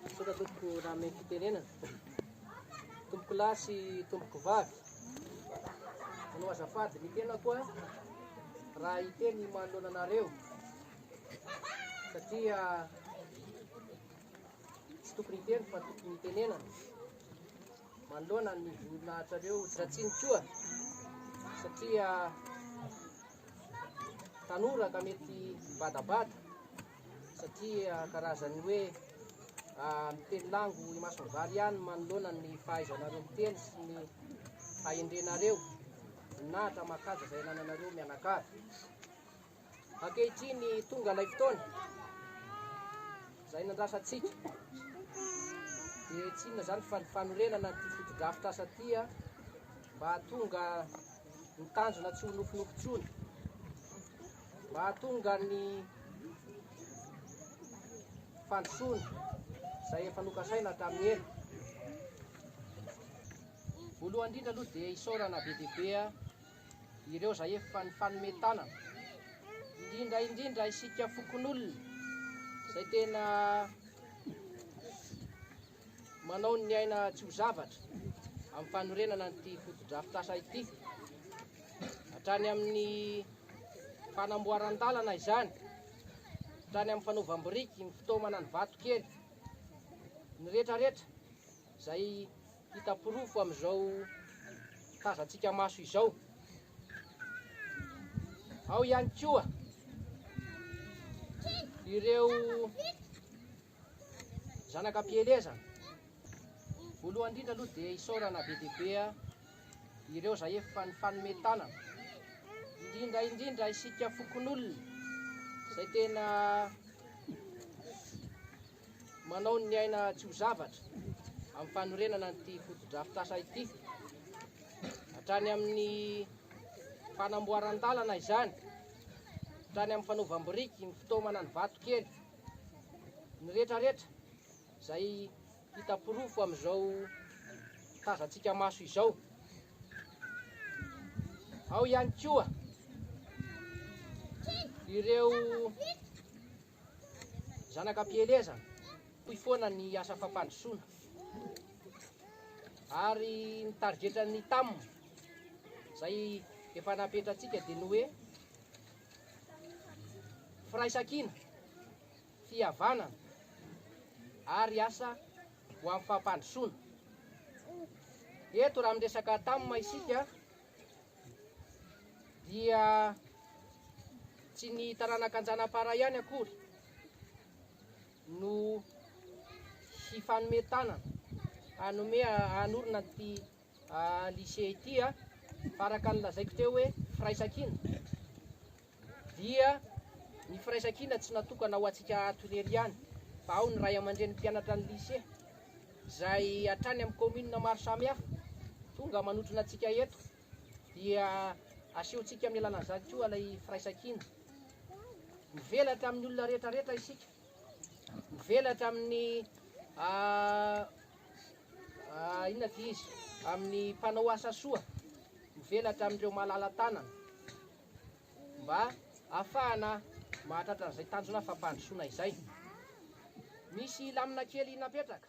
Misaotra tompoko raha mihaino fitenenana. Tompoko lahy sy tompoko vavy, manao azafady ny tenako a raha hiteny manoloana anareo satria tsy tokony hiteny fa tokony hitenenana manoloana ny voninahitrareo Dratsiny koa satria tanora ka mety badabada. satria karazan'ny hoe miteny lango imason'ny vary ihany manoloana ny fahaizanareo miteny sy ny fahendrenareo voninahitra mahakaja izay anananareo mianakavy ankehitriny tonga ilay fotoana izay nandrasantsika dia tsy inona izany fa ny fanorenana ny fotodrafitra asa tia mba tonga ny tanjona tsy ho nofinofy intsony Mahatonga ny fandrosoana izay efa nokasaina hatramin'ny ela. Voalohany indrindra aloha dia isaorana be dia be ireo izay efa nifanome tanana, indrindra indrindra isika fokonolona izay tena Manao ny aina tsy ho zavatra amin'ny fanorenana an'ity fotodrafitrasa ity. Hatrany amin'ny fanamboaran-dalana izany, hatrany amin'ny fanaovam-biriky, ny fitaomana ny vato kely, ny retraretra izay hita porofo amin'izao tazantsika maso izao. Ao ihany koa ireo Zanaka am-pielezana. Voalohany indrindra aloha dia isaorana be dia be ireo izay efa nifanome tanana. Indrindra indrindra isika fokonolona izay tena manao ny aina tsy ho zavatra amin'ny fanorenana an'ity fotodrafitrasa ity. Hatrany amin'ny fanamboaran-dalana izany, hatrany amin'ny fanaovam-biriky, ny fitaomana ny vato kely. Ny rehetra rehetra izay hita porofo amin'izao tazantsika maso izao. Ao ihany koa ireo zanaka mpielezana hoy foana ny asa fampandrosoana ary ny tarigetran'ny tam izay efa napetratsika dia ny hoe Firaisankina, fihavanana ary asa ho amin'ny fampandrosoana. Eto raha miresaka Tam isika dia tsy ny taranaka Anjanapara ihany akory no hifanome tanana hanome hanorina an'ity lycée ity a, fa araka ny lazaiko teo hoe firaisankina dia ny firaisankina tsy natokana ho antsika ato irery ihany fa ao ny ray aman-dreny mpianatra ny lycée izay hatrany amin'ny commune maro samihafa tonga manotrona antsika eto dia asehontsika amin'ny alalan'izany koa ilay firaisankina mivelatra amin'ny olona rehetra rehetra isika mivelatra amin'ny ah, Inona ity izy? Amin'ny mpanao asa soa mivelatra amin'ireo malala-tanana mba hahafahana mahatratra an'izay tanjona fampandrosoana izay. Misy lamina kely napetraka.